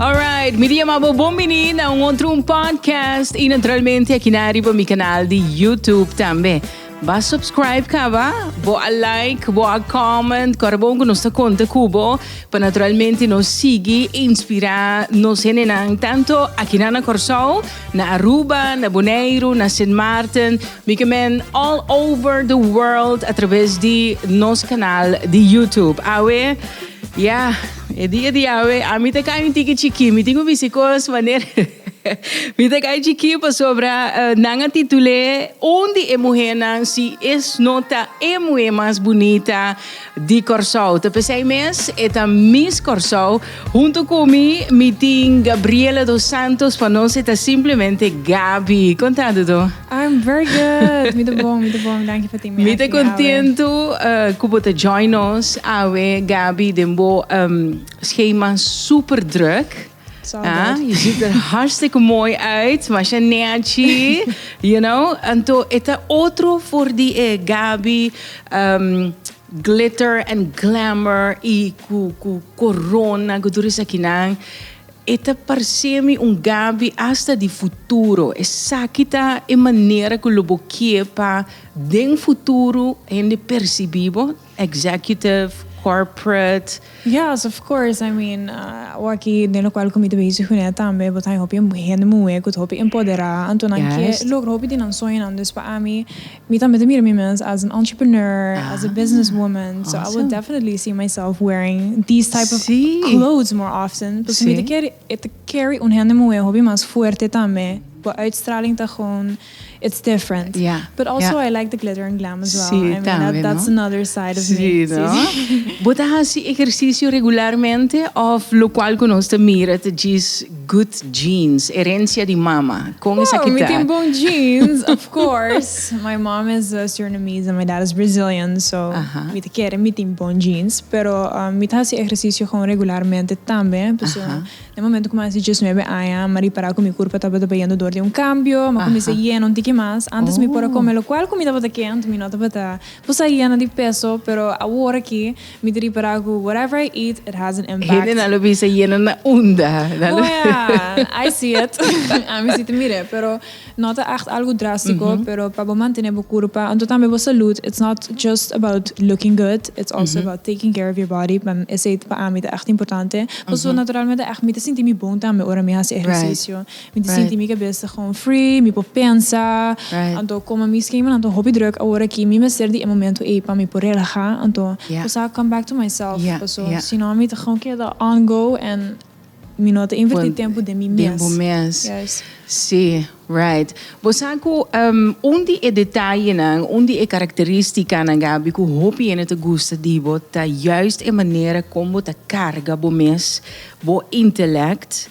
Alright, mi di amabo bon bini na un otro un podcast y naturalmente aquí na arriba mi canal di YouTube tambe. Ba subscribe caba, bo a like, bo a comment, corabon cu nos ta conta cubo, pa naturalmente nos sigui inspira nos hendenan tanto aquí na na Corsou, na Aruba, na Boneiru, na Sint Maarten, mi ke men all over the world a traves di nos canal di YouTube. Awe, ya. E dia di awe ami ta kai un tiki chikí, mi tin un bisi kos manera mi ta kai chikí pasobra nan a titul'é un di e muhénan si es no ta e muhé mas bunita di Kòrsou. Ta p'esei mes e ta Miss Kòrsou. Huntu ku mi mi tin Gabriela dos Santos, pa nos e ta simplemente Gabi. Kontando do? I'm very good. Mi te bon, mi te bon. Danki for team. Mi te contento uh, eh, cubo te join nos. Awe, Gabi, den bo um, schema super druk. Ah, je ziet er hartstikke mooi uit, maar je neatje, you know. En to, het is otro voor die eh, Gabi. Um, glitter and glamour y cu, cu corona, cu toerist aquí E ta parcemi un gabi hasta di futuro. Esaki ta e manera cu lo bo kie pa den futuro hende percibi bo, executive, corporate. Yes, of course, I mean, awaki den locual cu mi ta bezig cu nan tambe bo ta haña hopi hende muhe cu ta hopi empoderá. Anto nan kier logra hopi di nan soñonan. Dus pa ami. Mi tambe ta mira mi mes as un entrepreneur, as a business woman, so I will definitely see myself wearing these type of clothes more often, pasobra mi ta kere e ta carry un hende muhé hopi mas fuerte tambe, bo uitstraling ta gewoon it's different, but also I like the glitter and glam as well, I mean that's another side of me. Sí no. Bo ta hasi ehersisio regularmente of lokual ku nos ta mira ta djis. Good genes, herencia di mama. Con esaki ta? Mi tin bon genes, of course. My mom is Surinamese and my dad is Brazilian, so mi ta kere mi tin bon genes. Pero mi ta haci ehercicio gewoon regularmente tambe. Pasobra na e momento cu mi a haci diesnuebe aña, mi a ripara cu mi curpa tabata pa yendo door di un cambio, mi a cuminsa yena un tiki mas. Antes mi por a come locual cu mi tabata kend, mi no tabata, mi por sa yena di peso, pero awor aki, Mi ta ripará ku whatever I eat, it has an impact. Hendenan lo bisa yena na unda. Nan lo. Oja, I see it. Ami si ta mir'é, pero no ta ègt algu drástiko, pero pa bo mantené bo kurpa, anto tambe bo salud, it's not just about looking good, it's also about taking care of your body, pan esei pa ami ta ègt importante. Pasobra naturalmente ègt mi ta sinti mi bon tambe ora mi hasi ehersisio. Mi ta sinti mi kabesa gewoon free, mi por pensa. Anto como mi schema nan ta hopi druk awor aki, mi mester di e momento ey pa mi por relaha, anto cu sa come back to myself, paso si no mi ta gewoon keda on go en mi no ta inverti tempo den mi mes. Si, right. Bo sa cu un di e detayenan, un di e caracteristicanan Gaby cu hopi hende ta gusta di bo ta juist e manera como bo ta carga bo mes, bo intellect,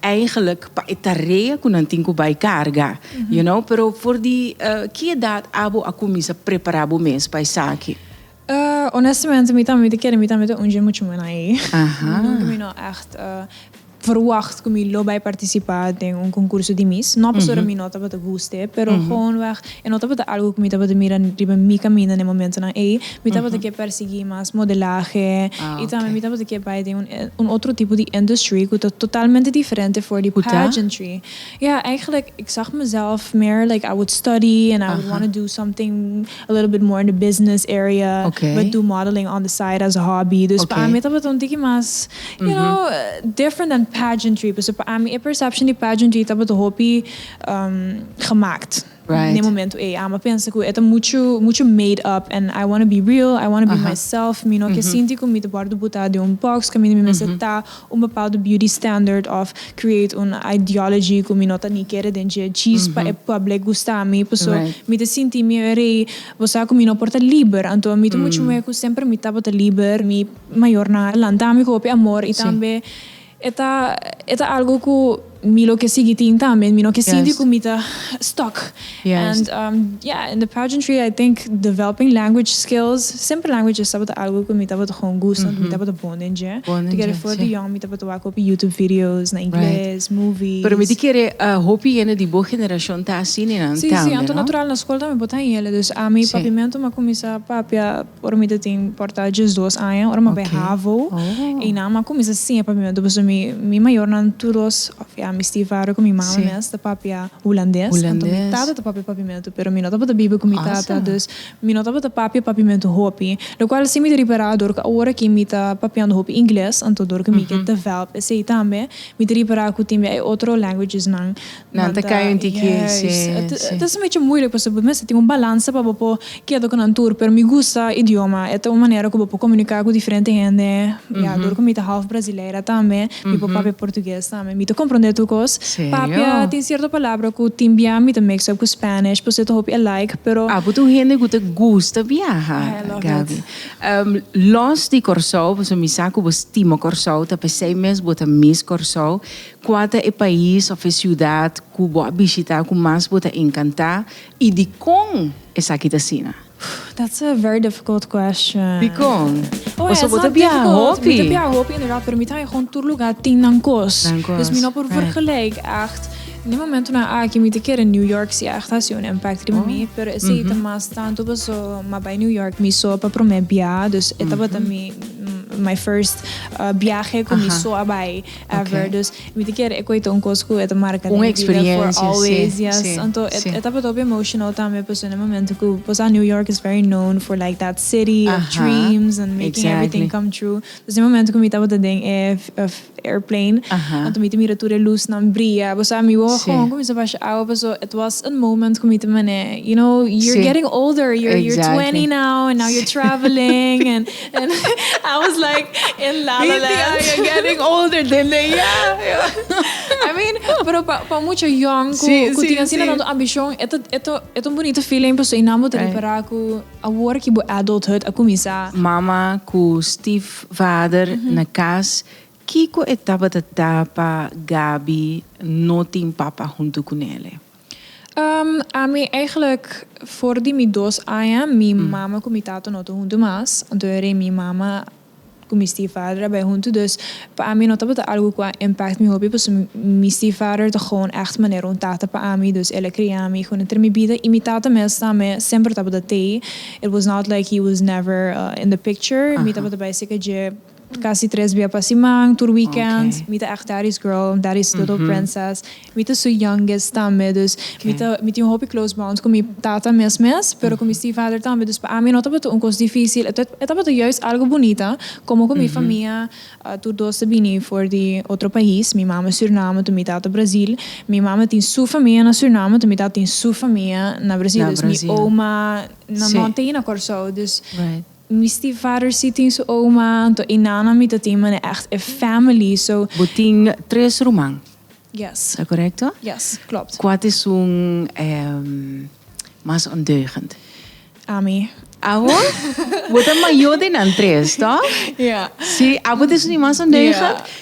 Eigenlijk pa e tarea cu nan tin cu bay carga, you know. Pero for di ki edad abo a cuminsa prepara bo mes pa esaki? Honestamente mi tambe mi ta kere mi tambe ta un dje mucho mena ey. Nunca mi no echt verwacht cu mi lo bay participa den un concurso di mis. No pasobra mi no tabata guste, pero gewonweg E no tabata algu ku mi tabata mira riba mi kaminda na e momentunan ei. Mi tabata ke pèrsiguí mas modelahe i tambe mi tabata ke bai den un otro tipo di industry ku ta totalmente diferente for di pageantry. Ya, eigenlijk ik zag mezelf meer like I would study and I would wanna do something a little bit more in the business area but do modeling on the side as a hobby. Dus pa ami tabata un tiki mas, you know, different dan pageantry. Pasobra pa ami e perception di pageantry tabata hopi. gemaakt n'e momento ei. A'ma pensa ku e ta muchu muchu made up en I wanna be real, I wanna be myself, mi no ke sinti ku mi ta por debutá den un bòks, ku mi mester ta un bepaldu beauty standard òf create un ideology ku mi no ta ni kere den dje djis pa e public gusta mi, paso mi ta sinti mi e rei, bo sa ku mi no por ta liber, anto mi ta muchu muhé ku semper mi tabata liber, mi mayornan a lanta mi ku hopi amor i tambe E ta e ta algo cu mi lo ke sigui tin tambe. Mi no ke sinti cu mi ta stuck. And um yeah in the pageantry I think developing language skills, simple languages tabata algo cu mi tabata gewoon gusta want mi tabata bon den dje. Together for the young mi tabata wak hopi YouTube videos na Ingles, movies. Pero mi ta kere hopi hende di bo generacion ta asina tambe, no? Si, si. Anto natural na school tambe bo ta hende. Dus ami papiamento mi a cuminsa papia. Ora mi ta tin por ta diesdos aña, ora mi bai havo, Einan a cuminsa siña pa mi mester pasobra mi mayornan tur dos, of ya mi stiefvader cu mi mami mes ta papia Hulandes, anto mi tata ta papia papimentu pero mi no tabata biba cu mi tata, dus mi no tabata papia papimentu hopi, locual si mi ta repará dor cu awor aki mi ta papiando hopi Ingles, anto dor cu mi ke develop esey tambe, mi ta repará cu tin bia e otro languagesnan, Nan ta kaya un tiki ey, si, si. Ta ser mecho muilik pasobra bo mester tin un balansa pa bo por keda ku nan tur, pero mi gusta idioma, e ta un manera ku bo por komunika ku diferente hende, ya, dor ku mi ta half brasileira tambe, mi por papia portugues tambe, mi ta komprondé tur kos, papia, tin sierto palabra ku tin bia mi ta mix up ku Spanish, por se ta hopi alike, pero. Apo ta un hende ku ta gusta biaha, Gaby, los di Kòrsou, pasobra mi sa ku bo stima Kòrsou, ta p'esei mes bo ta miss Kòrsou. Kua ta e pais of e siudat ku bo a bishita ku mas bo ta enkantá i dikon esaki ta asina? That's a very difficult question. Dikon? Pasobra bo ta biaha hopi. Mi ta biaha hopi inderdat, pero mi ta haña hopi tur lugar tin nan kos. Dus mi no por vergelijk ègt. Den momentunan aki mi ta kere New York si ègt a hasi un impèkto riba mi, pero esei ta mas tantu paso m'a bai New York mi so pa promé biaha, dus e tabata mi my first biahe ku mi so a bai. ever dus mi ta kere e koe ta un kos ku e ta marka den mi bida for always yes anto e tabata hopi emotional tambe pasobra na e momento ku por sa New York is very known for like that city of dreams and making everything come true dus den e momento ku mi tabata den e airplane anto mi ta mira tur e lusnan bria bo sa mi wou a honger ku mi sa basha awa paso it was a moment ku mi ta mane you know you're getting older you're twenty now and now you're traveling and. And I was like in la la land. Inti, you're getting older, dende ya. I mean, pero pa, pa mucha young, ku, sí, ku sí, tin asina sí. tanto ambicion, eto, eto, eto un bonito feeling, paso y namo te right. repara ku awor ki bo adulthood a kumisa. Mama ku stiefvader mm -hmm. na kas, kiko e tabata ta pa Gabi no tin papa huntu ku nele? Ami eigenlijk for di mi dos aña mi mama cu mi tato no ta hunto mas, anto e rei mi mama cu mi stiefvader a bay hunto dus pa ami no tabata algo cu a impact mi hopi pasobra mi stiefvader ta gewoon echt manera un tata pa ami dus el a cria mi con hunter mi bida y mi tata mes ta me semper tabata tey it was not like he was never in the picture mi tabata bay cerca dje. Casi tres bia pa siman, tur weekend, mi ta echt Daddy's girl, Daddy's little princess, mi ta su youngest tambe, dus mi ta mi tin un hopi close bond cu mi tata mes mes, pero cu mi stiefvader tambe, dus pa ami no tabata un cos dificil, e e tabata juist algo bunita, como cu mi famia tur dos ta bini for di otro pais, mi mama Suriname tu mi tata Brazil, mi mama tin su famia na Suriname tu mi tata tin su famia na Brazil, dus mi oma no no ta na Corsou, dus. Mi stiefvader si tin su oma, anto e nana mi ta tin, mane ègt e family, so. Bo tin tres ruman. Yes. Ta korekto? Yes, klopt. Kua te sun e mas ondeugend? Ami. Abo? Bo ta mayo den nan tres, tòg? Ja. Si, abo te sun di mas ondeugend? Ja.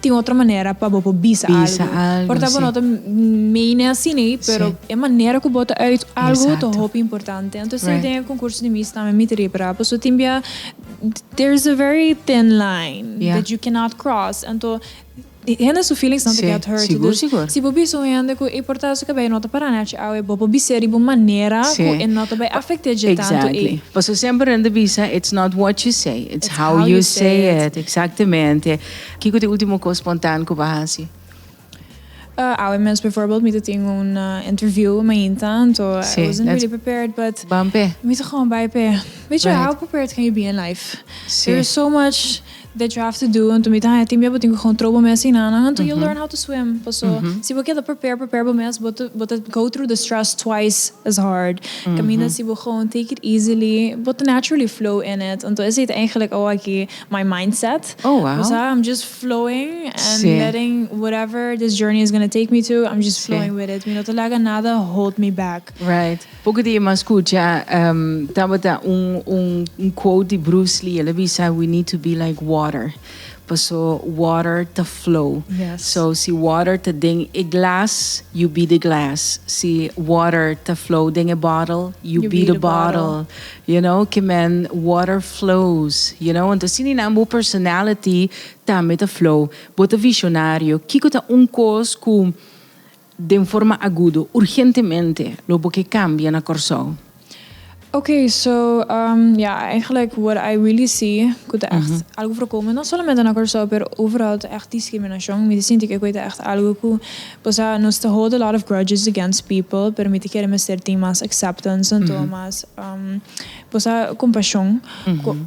Tin otro manera pa bo por bisa algu. Por ta bo no ta meene asina ei, pero e manera ku bo ta uit algu ta hopi importante. Anto esei den e konkurso di Miss tambe mi ta ripara, paso tin bia there is a very thin line that you cannot cross. Anto hende su feelings nan ta get hurt. Dus si bo bisa un hende ku ei por ta su kabei no ta para nachi awe, bo por bis'e riba un manera ku e no ta bai afekt'é dje tantu ei. Paso semper nan ta bisa it's not what you say, it's how you say it. Exactamente. Kiko ta e ultimo kos spontan ku bo a hasi? Awe mes bivoorbeeld mi ta tin un interview mainta, so I wasn't really prepared but mi ta gewoon bai p'e. Bicho, how prepared can you be in life? There is so much that you have to do, anto mi ta haña tin bia bo tin ku gewoon trobo mes asina nan anto you learn how to swim. Paso si bo keda prepare prepare bo mes bo ta go through the stress twice as hard. Kaminda si bo gewoon take it easily bo ta naturally flow in it. Anto esei ta eigenlijk awor aki. my mindset. Oh wow. O sea, I'm just flowing and sí. letting whatever this journey is going to take me to, I'm just flowing sí. with it. Mi no te laga nada hold me back. Right. Poco di mas escucha um, tabata un, un, un quote di Bruce Lee, ele bisa, we need to be like water. Paso water to flow. Yes. So si water te den e glass, you be the glass. Si water te flow den e bottle, you, you be, be, the, the bottle. bottle. You know ki men water flows you know entos si ninan bo personality tambe ta flow bo ta visionario kiko ta un kos ku den forma agudo urgentemente lo bo ke kambia na Kòrsou? Ok so ya eigenlijk what I really see ku ta echt algo for kome no solamente na Kòrsou pero overal ta echt diskriminashon mi ta sinti ke koe ta echt algo ku Pasobra nos ta hold a lot of grudges against people, pero mi ta kere mester tin mas acceptance en todo mas cosa compashon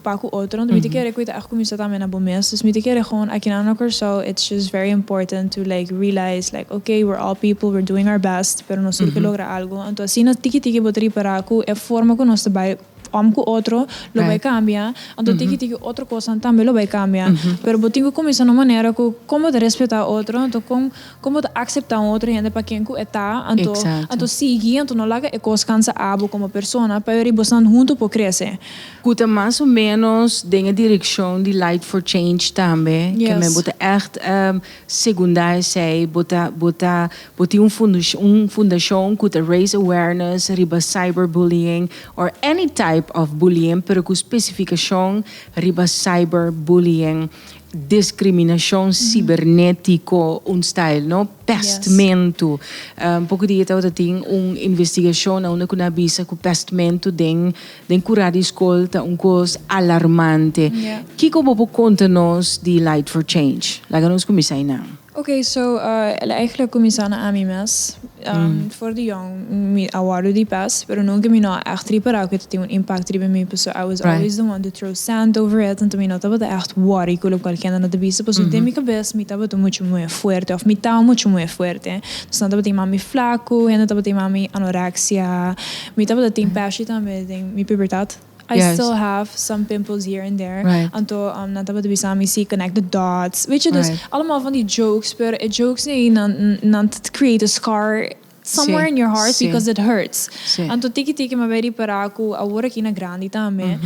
pa cu otronan. Mi ta kere cu e ta echt cuminsa tambe na bo mes. Dus mi ta kere gewoon akinan na Corsou it's just very important to like realize like ok we're all people we're doing our best pero nos tur ke logra algo. Anto asina tiki tiki bo ta ripara cu e forma cu nos ta bay Om ku otro lo bai kambia, anto tiki tiki otro kosanan tambe lo bai kambia. Pero bo tin ku kuminsá na un manera ku kon bo ta respetá otro, anto kon kon bo ta akseptá un otro hende pa ken ku e ta, anto anto sigui, anto no laga e kos kansa abo komo persona, pasobra bosan huntu por krese. Ku ta mas o ménos den e direkshon di Light for Change tambe, ke men bo ta ègt. Segunda esei bo ta bo ta bo tin un fundashon un fundashon ku ta raise awareness riba cyber bullying or any type of bullying pero ku spesifikashon riba cyber bullying diskriminashon sibernetiko un style no pèstmentu poku di e tabata tin un investigashon na unda ku nan bisa ku pèstmentu den Den cura di scol ta un cos alarmante. Kico bo por conta nos di Light for Change? Laga nos cuminsa eynan. Ok, so, el a eigenlijk cuminsa na ami mes. For di jong, mi a wordo di pes, pero nunca mi no a echt repará cu e ta tin un impacto riba mi, paso I was always the one to throw sand over it, anto mi no tabata echt worry cu locual kende no ta bisa, paso den mi cabes mi tabata mucho moe fuerte, of mi ta mucho moe fuerte. Nos nan tabata yama mi flacu, hende tabata yama mi anorexia, Mi tabata tin pashi tambe den mi pubertat. I still have some pimples here and there. Anto nan tabata bisa mi si connect the dots. Witje dus allemaal van die jokes pero e jokes ei nan ta create a scar somewhere in your heart because it hurts. Anto tiki tiki mi a ripara cu awor aki na grandi tambe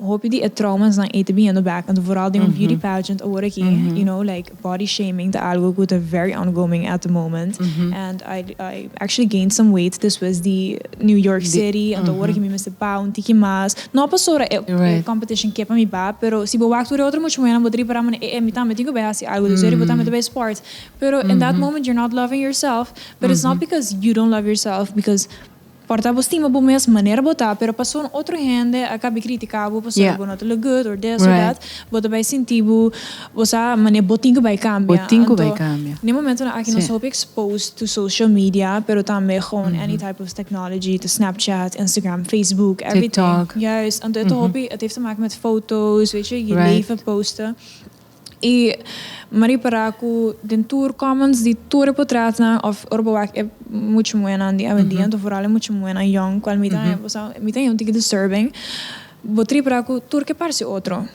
hopi di e traumasnan ei ta biniendo back anto vooral den un beauty pageant awor aki you know like. Body shaming ta algo cu ta very ongoing at the moment and I I actually gained some weight despues di New York City anto awor aki mi mester baha un tiki mas no pasobra e competition ke pa mi baha pero si bo wak tur e otro mucha muhernan bo ta ripara mana e e mi tambe tin cu bay haci algo despues eri bo tambe ta bay sport pero in that moment you're not loving yourself but it's not because you don't love yourself because Por ta bo stima bo mes manera bo ta, pero pasobra otro hende a kabi kritika bo pasobra bo no ta look good or this or that, bo ta bai sinti bo bo sa mane bo tin ku bai kambia. Anto den momentonan aki nos ta hopi exposed to social media pero tambe gewoon any type of technology ta Snapchat, Instagram, Facebook, everything. Juist, anto e ta hopi, et heeft te maken met foto's, weet je, je leven posten. Y me repara cu den tur comments di tur e potretnan of ora bo wak e mucha muhernan di awendia anto vooral e mucha muhernan yong cual mi ta hember sa mi ta yendo un tiki disturbing bo ta repara cu tur ke parse otro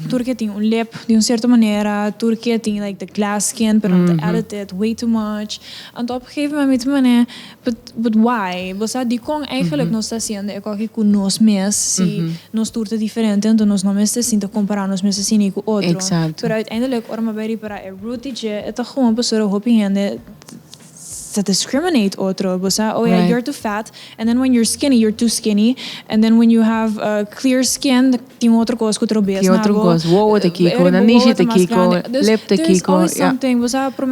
tur ke tin un lip di un cierto manera tur ke tin like the glass skin pero ta edited way too much anto op een gegeven moment mi ta mane But why? Bo sa dikon eigenlik nos ta hasiendo e koki ku nos mes si nos tur ta diferente anto nos no mester sinta kompará nos mes asina i ku otro. Pero uiteindelik ora mi bai ripará e root di dje e ta gewoon pasobra hopi hende ta discriminate otro. Bo sa oh ya you're too fat and then when you're skinny you're too skinny and then when you have clear skin Tin otro cos cu trobeas na bo. Tin otro cos, wowo te kico, nanishi te kico, lip te kico, ja.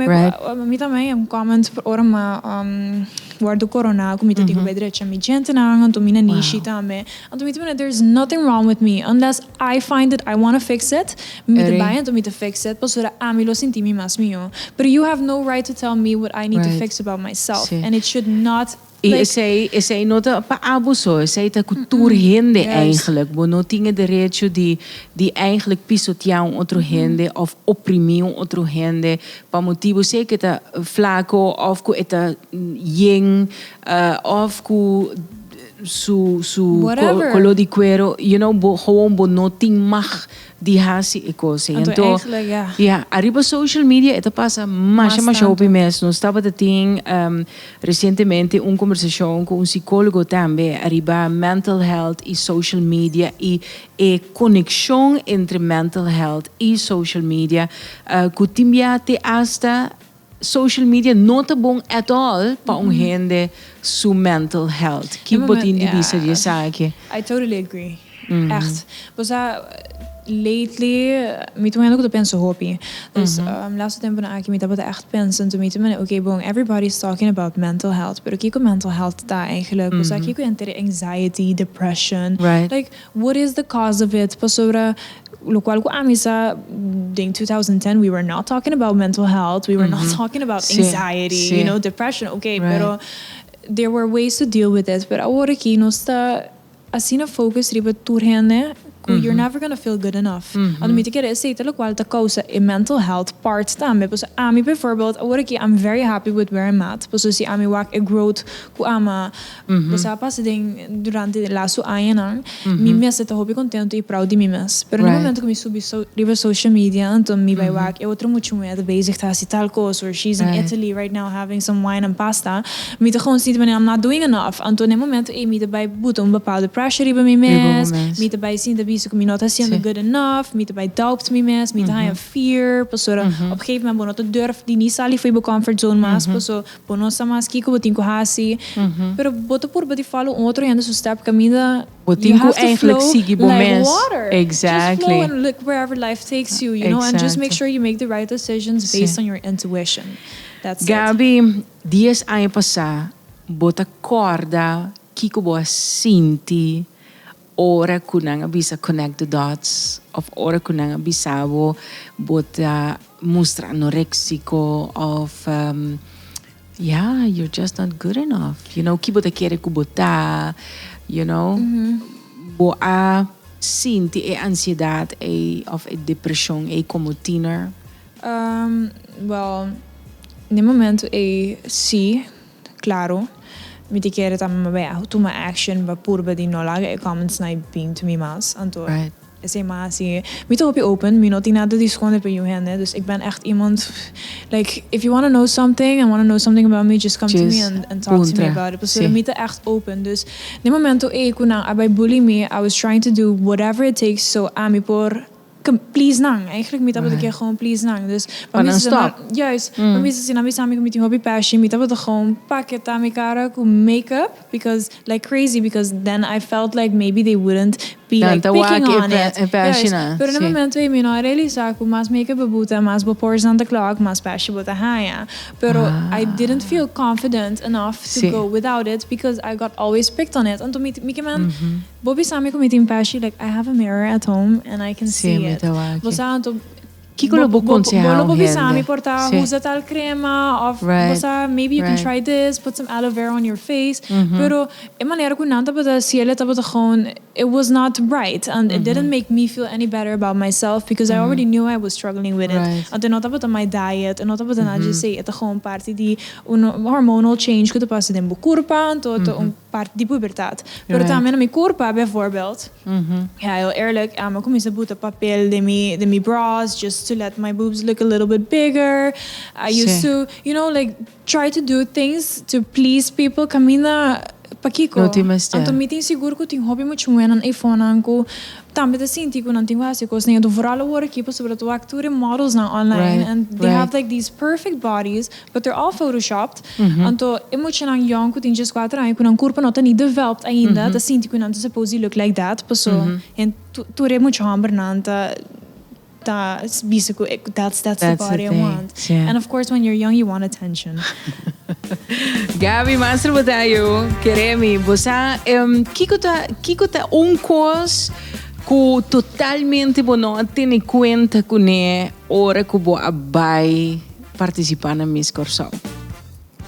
Right. Mi tambe e un comment ora mi wordo corona cu mi ta tin derecho na mi dientenan, anto mi nanishi tambe. Anto mi ta mira there is nothing wrong with me unless I find it I wanna fix it, mi ta bay anto mi ta fix it pasobra ami lo sinti mi mas mijo. Pero you have no right to tell me what I need to fix about myself and it should not. Y esey esey no ta pa abuso, esey ta cu tur hende eindelijk. Bo no tin e derecho di di eindelijk pisotea un otro hende of oprimi un otro hende pa motibo sey cu e ta flaco of cu e ta yen of cu su su color di cuero, you know, bo, gewoon bo no tin mag di hasi e kos ei. Anto èntò, ya, ariba social media e ta pasa masha masha hopi mes. Nos tabata tin resientemente un kombersashon ku un sikólogo tambe ariba mental health i social media i e konekshon entre mental health i social media ku tin biaha te asta Social media no ta bon at all pa un hende su mental health. Ki bo tin di bisa di esaki? I totally agree. Echt. Bo sa, lately mi ta un hende ku ta pensa hopi. Dus laatste tempunan aki mi tabata echt pensa into mi te mane, ok, bon, everybody is talking about mental health, pero kiko mental health ta eigenlijk? Bo sa kiko yanteri anxiety, depression? Like. What is the cause of it? Pasobra locual cu ami sa den two thousand ten we were not talking about mental health, we were not talking about anxiety, you know, depression, ok, pero there were ways to deal with it, pero awor aki nos ta asina focus riba tur hende cu you're never gonna feel good enough, a lo mi ta kere esey ta locual ta causa e mental health part tambe, pasobra ami bijvoorbeeld awor aki I'm very happy with where I'm at, pasobra si ami wak e growth cu ami a. Bo sa pas den durante e laso añanan mi mester ta hopi contentu y proud di mi mes. Pero den momento cu mi subi riba e social media anto mi bay wak e otro mucha muher ta bezig ta haci tal cos or she's in Italy right now having some wine and pasta mi ta gewoon sinti I'm not doing enough anto den momento ey mi ta bay buta un bepaldo pressure riba mi mes mi ta bay sinti a bisti cu mi no ta haciendo good enough mi ta bay doubt mi mes mi ta haya fear pasobra op gegeven moment bo no ta durf di ni sali fo'i bo comfort zone mas paso Bo no sa mas kiko bo tin ku hasi, pero bo ta purba di follow un otro hende su step kaminda. Bo tin ku eigenlijk sigui bo mes. You have to flow like water. Just flow and look wherever life takes you, you know, and just make sure you make the right decisions based on your intuition. That's it. Gaby, dies aña pasá bo ta kòrda kiko bo a sinti Ora ku nan a bisa connect the dots òf ora ku nan a bisa bo bo ta mustra anoréksiko òf ya you're just not good enough you know ki bo ta kere ku bo ta you know bo a sinti e ansiedat ei òf e depreshon ei komo tiener? Bèl den e momentu ei si Claro, mi te kere tambe ma bay a tuma action pa purba di no laga e comments na e bin to mi mas. Anto esey ma hasi, mi ta hopi open, mi no tin nada di sconde pa yu hende, dus ik ben echt iemand like if you wanna know something and wanna know something about me just come to me and talk to me about it, pasobra mi ta echt open. Dus na e momento ey cu nan a bay bully mi, I was trying to do whatever it takes so ami por Ke please nan. Eigenlijk mi tabata kier gewoon please nan. Dus pa mi sesa nan, juist, pa mi sesa nan mi sa mi ku mi tin hopi pèshi, mi tabata gewoon paketa mi kara ku make up because like crazy because then I felt like maybe they wouldn't be like picking on it. Juist, pero den momento ei mi no a realisa ku mas make up bo buta, mas bo pores nan ta clog, mas pèshi bo ta haña. Pero I didn't feel confident enough to go without it because I got always picked on it. Anto mi kimen Bo bisa mi cu mi tin pashi like I have a mirror at home and I can see it bo sa anto Kiko lo bo conseha un hende? Bo lo bo bisa mi por ta usa tal crema of bo sa maybe you can try this put some aloe vera on your face pero e manera cu nan tabata ciele tabata gewoon it was not right and it didn't make me feel any better about myself because I already knew I was struggling with it anto e no tabata my diet e no tabata nada dje esey e ta gewoon parti di un hormonal change cu ta pasa den bo curpa anto e ta un. Parti di pubertat. Pero tambe na mi curpa, bijvoorbeeld, ja heel eerlijk, a cuminsa buta papel den mi den mi bras just to let my boobs look a little bit bigger. I used to, you know, like try to do things to please people caminda pakico? Anto mi tin sigur cu tin hopi muchuenan ey fonan cu tambe ta sinti cu nan tin cu haci cosnan. Yo ta vooral awor aki pasobra ta wak tur e modelsnan online and they have like these perfect bodies Dokter al photoshopped, anto e muchanan yòn ku tin djes kuater aña ku nan kurpo no ta ni develped ainda ta sinti ku nan ta supos di look like that, paso tur e mucha hòmbernan ta ta bisa ku that's that's the body I want. And of course when you're young you want attention. Gaby Master Botayo, keré mi bo sa kiko ta kiko ta un kos ku totalmente bo no a tene kuenta kuné ora ku bo a bai partisipá na Miss Kòrsou.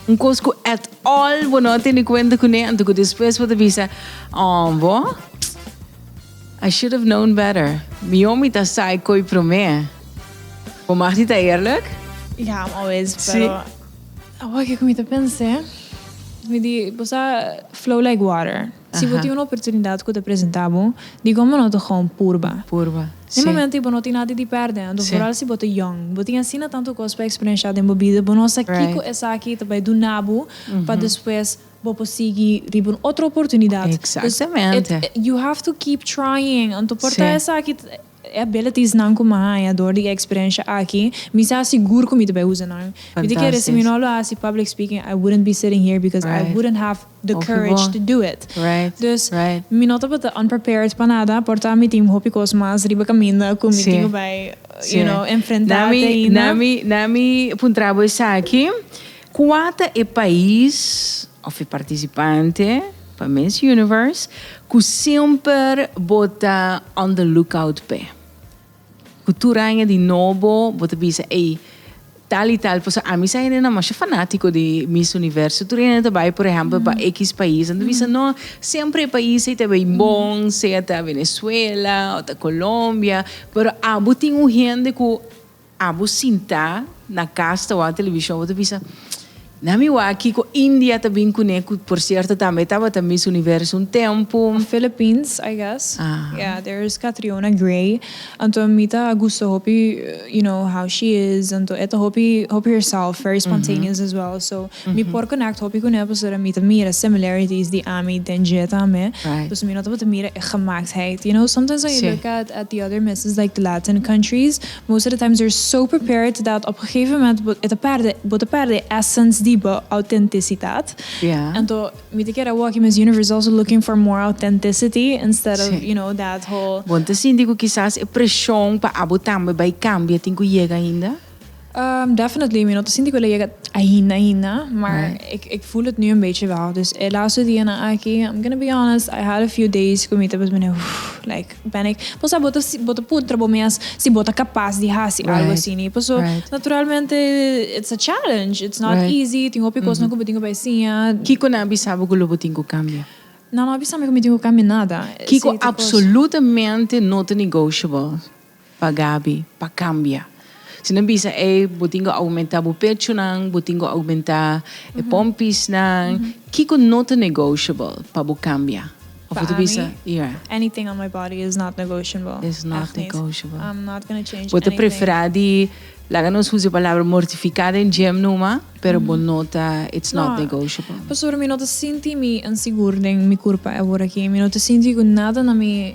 Un kos ku at all bo no a tene kuenta kuné anto ku despues bo ta bisa, Aww bo, I should have known better. Mihó mi ta sai ko'i promé. Bo mag di ta eerlik? Ja, mi a wens, pero awor ke ku mi ta pensa, mi di bo sa flow like water. Si bo tin un oportunidat ku ta presentá bo, dikon bo no ta gewoon purba? Den momento i bo no tin nada di pèrdè, anto foral si bo ta yòn, bo tin asina tantu kos pa eksperenshá den bo bida, bo no sa kiko esaki ta bai duna bo pa despues bo por sigui riba un otro oportunidat. Exactamente. You have to keep trying, anto por ta esaki. E abilities nan cu mi a haya door di e experiencia aki, mi sa sigur cu mi ta bay uza nan. Mi ta kere si mi no lo haci public speaking, I wouldn't be sitting here because I wouldn't have the courage to do it. Dus, mi no tabata unprepared pa nada, por ta mi tin hopi cos mas riba caminda cu mi tin cu bay, you know, enfrenta te ainda. Na mi puntra bo esaki, Kua ta e pais of e partisipante pa Miss Universe ku semper bo ta on the lookout p'e? Ku tur aña di nobo bo ta bisa, ey, tal i tal, pasobra ami sa hende nan masha fanatiko di Miss Universo. Tur hende ta bai, por ehèmpel, pa ekis pais, nan ta bisa, no, semper e pais ey ta bai bon, sea ta Venezuela o ta Colombia, pero abo tin un hende ku. Abo sinta na cas ta wak television bo ta bisa na mi wak kiko India ta bin cune cu por cierto tambe tabata Miss Universo un tempo. Philippines I guess yeah there is Catriona Gray anto mi ta gusta hopi you know how she is anto e ta hopi hopi herself very spontaneous as well so mi por connect hopi cune pasobra mi ta mira similarities di ami den dje tambe pasobra mi no tabata mira e gemaktheid you know sometimes when you look at at the other misses like the Latin countries. Most of the times they're so prepared dat op gegeven moment bo e ta perde bo ta perde e essence di bo autenticitat. Anto mi ta kere awor aki Miss Universe is also looking for more authenticity instead of you know that whole. Bon ta sinti cu kisas e presion pa abo tambe bay cambia tin cu yega ainda? Umm definitely mi no ta sinti cu el a yega ainda ainda maar ik ik voel het nu een beetje wel. Dus e laatste dianan aki I'm gonna be honest I had a few days cu mi ta pues mire like Panic. Bo sa bo ta si bo ta puntra bo mes si bo ta kapas di hasi algu asini paso naturalmente it's a challenge it's not easy tin hopi kosnan ku bo tin ku bai siña. Kiko nan a bisa bo ku lo bo tin ku kambia? Nan no a bisa mi ku mi tin ku kambia nada. Kiko apsolutamente no ta negotiable? Pa Gaby, pa cambia. Si no bisa ey, bo tin cu aumenta bo pechonan, bo tin cu aumenta e pompisnan. Kico no ta negotiable pa bo cambia? Of bo ta bisa, yeah. Pa ami, anything on my body is not negotiable. Is not negotiable. Echt niet. I'm not gonna change anything. Bo ta prefera di, laga nos usa e palabra mortifica den gym numa, pero bo no ta, it's not negotiable. Pasobra mi no ta sinti mi insigur den mi curpa e aworaki. Mi no ta sinti cu nada na mi.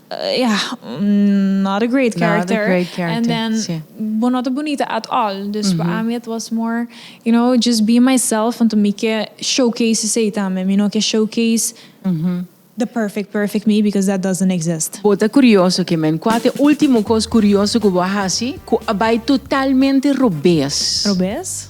Ya, not a great character. Not a great character, si. And then, bo no ta bunita at all. Dus pa ami it was more, you know, just be myself, anto mi ke showcase esei tambe. Mi no ke showcase the perfect, perfect me, because that doesn't exist. Bo ta curioso ke men. Cua ta e ultimo cos curioso cu bo a haci cu a bay totalmente robez? Robez?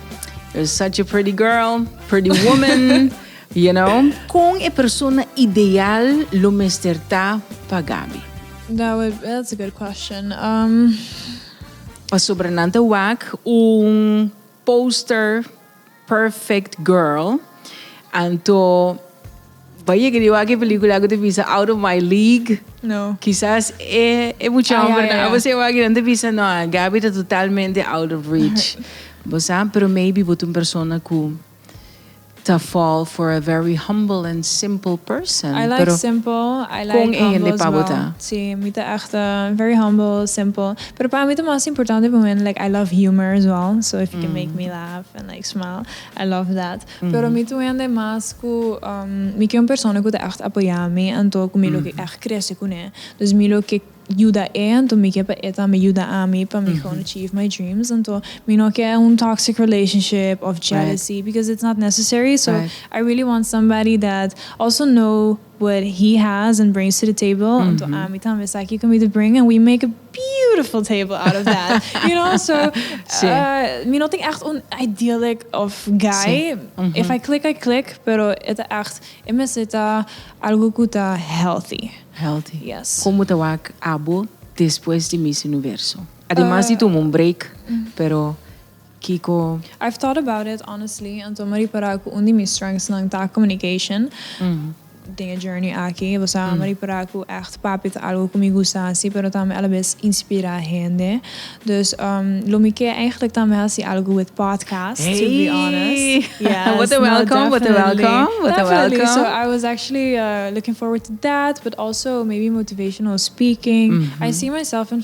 You're such a pretty girl, pretty woman, you know. Con e persona ideal lo mester ta pa Gaby? That would, that's a good question. Um, Pasobra nan ta wak un poster perfect girl, anto Bay yega di wak e pelicula cu ta bisa Out of My League. No. Kisas e, e mucha Ah, ya, homber ya, nan. ya. Abo se wak y nan ta bisa, no, a Gaby ta totalmente out of reach. Bo sa, pero maybe bo ta un persona cu ta fall for a very humble and simple person. I like pero simple, I like con e hende humble pa bo ta? swel. Si, mi ta echt eh, very humble, simple. Pero pa mi ta mas importante pa mi like I love humor as well, so if you can make me laugh and like smile, I love that. Pero mi tu hende mas ku, mi ke un persona ku ta ègt apoyá mi, anto ku mi lo ke ègt krese kuné. Dus mi lo ke yuda e, anto mi ke pa e tambe yuda ami pa mi kon achieve my dreams. Anto mi no ke un toxic relationship of jealousy, because it's not necessary. So, I really want somebody that also know What he has and brings to the table anto ami tambe sa kico mi ta bring and we make a beautiful table out of that you know so mi no tin echt un idyllic of guy if I click I click pero e ta echt e mester ta algo cu ta healthy healthy yes. Como ta wak abo despues di Miss Universo? Ademas di tuma un break pero. Kiko? I've thought about it honestly en tuma ripara ku un di mi strengths nan ta communication den e journey aki bosa a ripara ku echt papi ta algo ku mi gusta hasi pero tambe alabes inspira hende dus lo mi ke eigenlijk tambe hasi algo with podcast to be honest yes Bo ta welkom bo ta welkom bo ta welkom so I was actually looking forward to that but also maybe motivational speaking I see myself in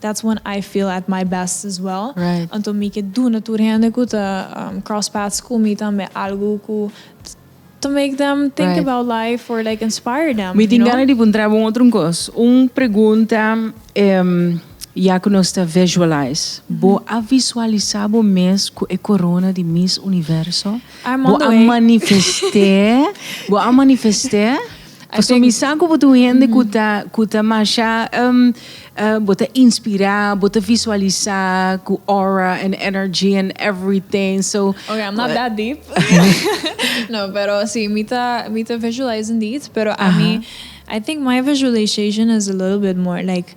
That's when I feel at my best as well. Right. Anto mi ke duna tur hende ku ta cross paths ku mi tambe algu ku ta make them think about life or like inspire them. Mi tin gana di puntraba un otro kos. Un pregunta em ya ku nos ta visualize. Bo a visualisa bo mes ku e korona di Miss Universo? I'm on the way. Bo a manifest'e? Bo a manifest'e? Pasobra mi sa ku bo ta un hende ku ta ku ta masha um, uh, bo ta inspirá, bo ta visualisá ku aura and energy and everything. So Okay, I'm not that deep. no, pero sí, mi ta mi ta visualize indeed, pero a mi I think my visualization is a little bit more like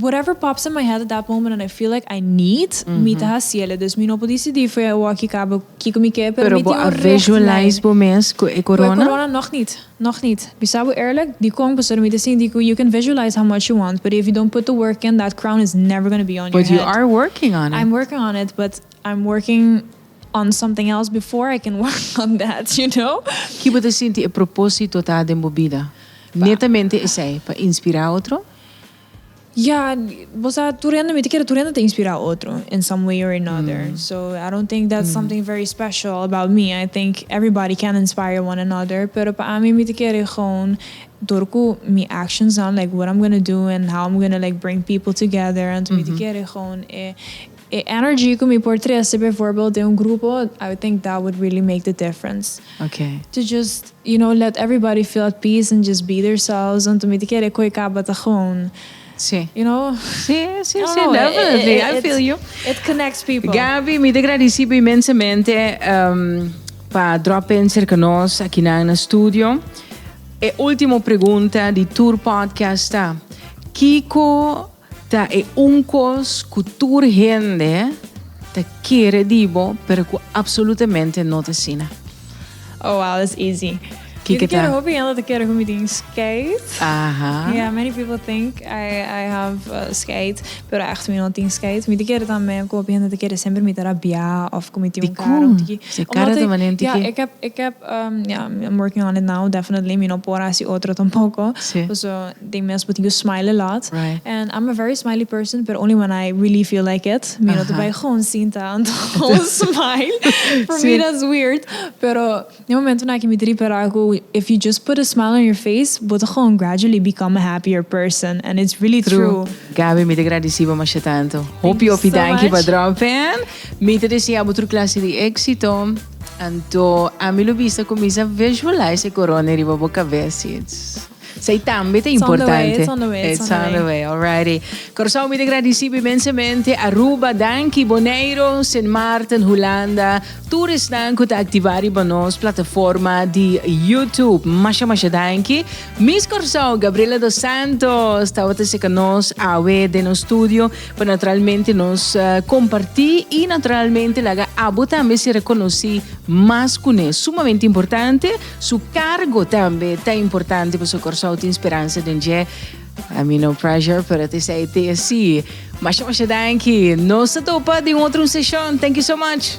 Whatever pops in my head at that moment and I feel like I need, mi ta haciele. Dus mi no por decidi foe e wak i cabo kico mi ke, pero mi tin un richtlijn. Cu e corona? Nog niet, nog niet. Mi sa bo eerlijk, di kong pasobra mi ta sinti cu you can visualize how much you want, but if you don't put the work in, that crown is never gonna be on your head. But you are working on it. I'm working on it, but I'm working on something else before I can work on that, you know? Ki bo ta sinti e proposito ta den bo bida? Netamente esei, pa inspira otro? Ya, bo sa tur hende, mi ta kere tur hende ta inspirá otro in some way or another. So, I don't think that's something very special about me. I think everybody can inspire one another. Pero pa ami mi ta kere gewoon dor ku mi actionsnan, like what I'm gonna do and how I'm gonna like bring people together, anto mi ta kere gewoon e E energy cu mi por trece bijvoorbeeld den un grupo, I would think that would really make the difference. Okay. To just, you know, let everybody feel at peace and just be theirselves, want mi ta kere e koe caba ta gewoon, Sí. you know, Sí, sí, I don't sí, know, definitely, it, it, I it, feel you. it connects people. Gaby, mi ta gradici bo inmensamente em, pa drop in cerca nos akinan na studio. E ultimo pregunta di tur podcast ta, Kico Ta e un kos ku tur hende ta kere di bo, pero ku apsolutamente no ta asina. Oh wow, that's easy. Mi ta kere hopi hende ta kere ku mi tin skeit. Yeah, many people think I have skeit, pero ègt mi no tin skeit. Mi ta kere tambe ku hopi hende ta kere semper mi ta rabiá òf ku mi tin un kara un tiki. Dikon? Se kara ta mané un tiki? Ja, e kep, yeah, I'm working on it now, definitely. Mi no por hasi otro tampoko. Pasobra. Tin mes bo tin cu smile a lot. And I'm a very smiley person pero only when I really feel like it. Mi no ta bay con cinta anto smile. For me that's weird. Pero den momentonan aki mi ta ripara cu if you just put a smile on your face bo ta con gradually become a happier person. And it's really true. Gaby mi ta gradici bo masha tanto. Hopi hopi danki pa droppen. Mi ta desea bo tur clase di exito. Anto ami lo bisa cuminsa visualize e corona riba bo cabes. Sei tambe ta importante. It's on the way, it's on the way. It's on the way, alrighty. Curaçao mi te gradisi imensemente Aruba, danki, Boneiro, Sint Maarten, Hulanda, tur esnan ku ta aktivá riba nos plataforma di YouTube. Masha masha danki. Miss Curaçao, Gabriela dos Santos, tabata seka nos awe den nos studio pa naturalmente nos eh, kompartí i naturalmente laga abo tambe si rekonosí mas kuné. Sumamente importante, Su cargo tambe ta importante paso Corsou tin speransa den dje. I mean no pressure, pero at esey te así. Masha masha danki. Nos ta topa den otro un session. Thank you so much.